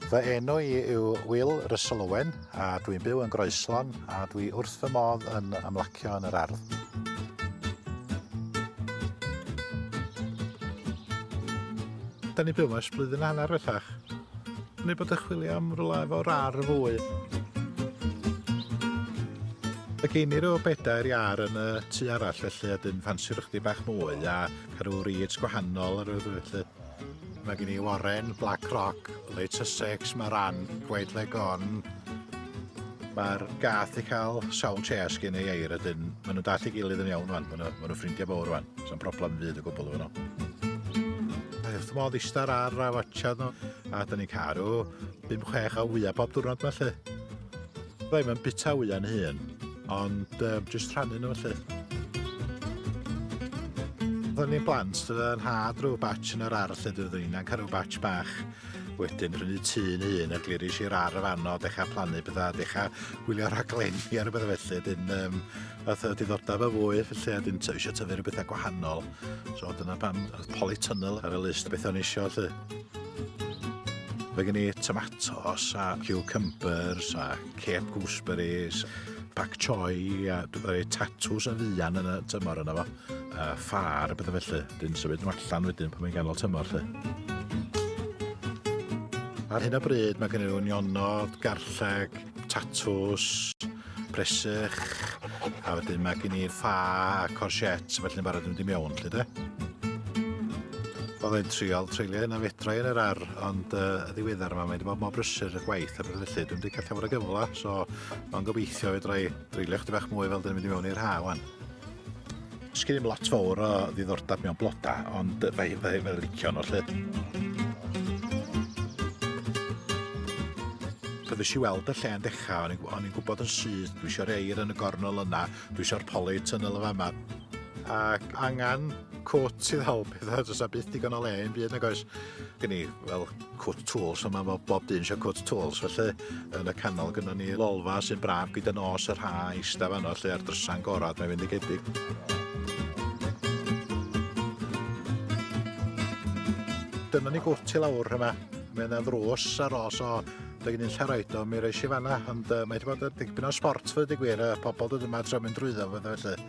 Fy enw i yw Will Russell Owen a dwi'n byw yn Groeslon a dwi wrth fy modd yn ymlacio yn yr ardd. Da ni'n byw yma ers blwyddyn a hanner bellach. Neu bod yn chwilio am rwla efo rar fwy. Mae gen i rhyw bedair iar yn y tu arall felly a dyn ffansio chdi bach mwy a cael rhyw reeds gwahanol ar y felly. Mae gen i Warren, Black Rock, Late Sussex, Maran, Gwaed Legon, Mae'r gath i cael sawl chess gen ei eir a dyn maen nhw'n dall i gilydd yn iawn rwan, maen nhw'n ffrindiau fawr rwan. Sa'n broblem fyd o gwbl efo nhw. A wrth modd istar ar a watcha nhw, a da ni'n caru 5-6 o wyau bob diwrnod felly. Rai mae'n bita wyau'n hun, ond um, jyst rhannu nhw felly. Oedden ni'n blant, yn had rhyw batch yn yr ar lle dwi ddyn, a'n cael rhyw batch bach. Wedyn prynu tun un a gliris i'r ar y fanno, dechrau plannu bydda, dechrau gwylio rhaglenni ar y bydda felly. Dyn, um, Oedd y diddordeb a fwy, felly a dwi'n eisiau tyfu rhywbeth a gwahanol. So dyna pam oedd polytunnel ar y list beth o'n eisiau, lle. Mae gen i tomatos a cucumbers a cape gooseberries, pak choi a dwi'n rhoi tatws a fuan yn y tymor yna fo. A ffar a bethau felly. Dwi'n symud nhw allan wedyn pan mae'n ganol tymor, lle. Ar hyn o bryd mae gen i rhywun nionod, garlleg, tatws, presych, a wedyn mae gen i'r ffa a corsets, felly'n barod yn mynd i mewn, lle de? Oedd e'n triol treulio hynna fedra i yn yr ar, ond uh, y ddiweddar yma mae wedi bod mor brysur y gwaith a beth felly, dwi'n wedi gallu fod y gyfle, so mae'n gobeithio fedra i dreulio chdi bach mwy fel dyn ni'n mynd i mewn i'r ha wan. Sgyn ddim lot fawr o ddiddordeb mewn bloda, ond fe fe fe licio nhw lle. Pan ddys i weld y lle yn dechrau, o'n i'n gwybod yn syth, dwi eisiau'r eir yn y gornol yna, dwi eisiau'r poli tunnel yma yma. Ac angen cwt sydd help iddo, does a byth digon o le yn byd nag oes. Gen i, wel, Cut Tools, a mae fel bob dyn eisiau Cut Tools, felly yn y canol gyda ni lolfa sy'n braf gyda nos yr ha eistedd fanno lle ar drysa'n gorau, mae'n fynd i gedig. Dyna ni gwrt i lawr yma, mae yna ddrws ar ôl, so Dwi'n gen i'n lle roed o, mi reis i fanna, ond uh, mae wedi bod yn dipyn o sport fyddi gwir, y pobl dod yma tra mynd drwyddo, fydda felly.